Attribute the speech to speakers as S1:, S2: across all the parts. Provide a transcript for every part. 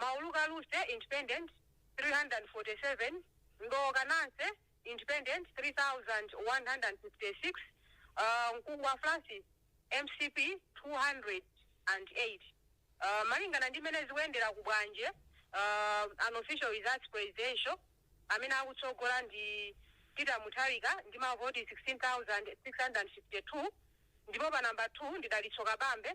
S1: Mauluka Luse, Independent, 347, Ndowoka Nancy, Independent, 3156, Mkungwa Francis, mcp, 208. Malingana ndi mmene zikuyendera ku Bwanje, Unofficial Results Presidential, amene akutsogola ndi Peter Mutharika ndi mavoti 16,652 ndipo pa number 2 ndi Dalitso Kabambe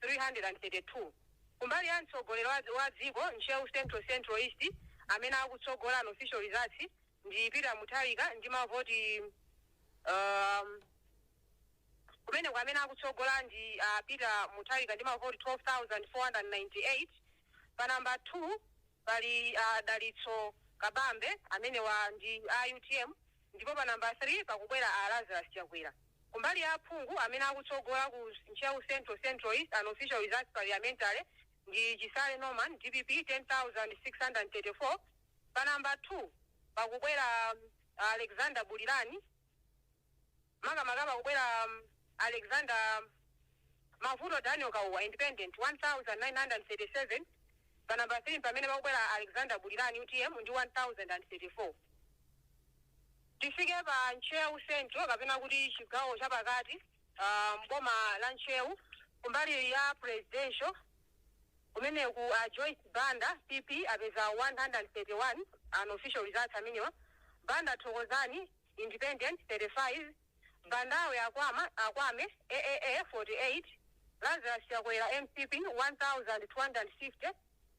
S1: 332 kumbali ya mtsogoleri wa dziko Ntcheu Central Central East amene akutsogola unofficial results ndi Peter Mutharika ndi mavoti um, kumeneko amene akutsogola ndi uh, Peter Mutharika ndi mavoti 12498 pa namba 2 pali uh, Dalitso Kabambe amenewa ndi a UTM Ndipo pa number 3 pakubwera a Lazarus Chakwera. Kumbali ya aphungu amene akutsogola ku Ntcheu Central, Central East Unofficial Results Parliamentary ndi Chisale Norman, dpp, 10,634, pa number 2 pakubwera a Alexander Bulirani, makamaka pakubwera a Alexander Mavuto Daniel Kauwa, Independent, 1,937, pa number 3 mpamene pakubwera a Alexander Bulirani, utm, ndi 1,034. tifike pa Ntcheu Central kapena kuti chigawo cha pakati m'boma la Ntcheu kumbali ya Presidential kumeneku a Joyce Banda, PP, apeza 131, unofficial results amenewa, Banda Thokozani, Independent, 35, Bandawe Akwame, AAA, 48, Lazarus Chakwera, mcp, 1250.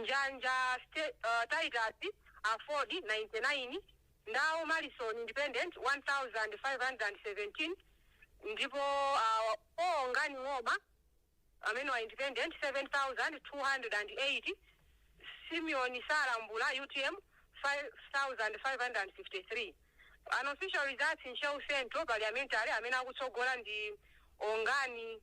S1: Njanja Ste uh, Titus Aford 99 Ndau Malison Independent 1517 ndipo uh, Ongani Ng'oma amenewa Independent 7208 Simeon Salambula UTM 5553 Unofficial results Ntcheu Central parliamentary amene akutsogola ndi Ongani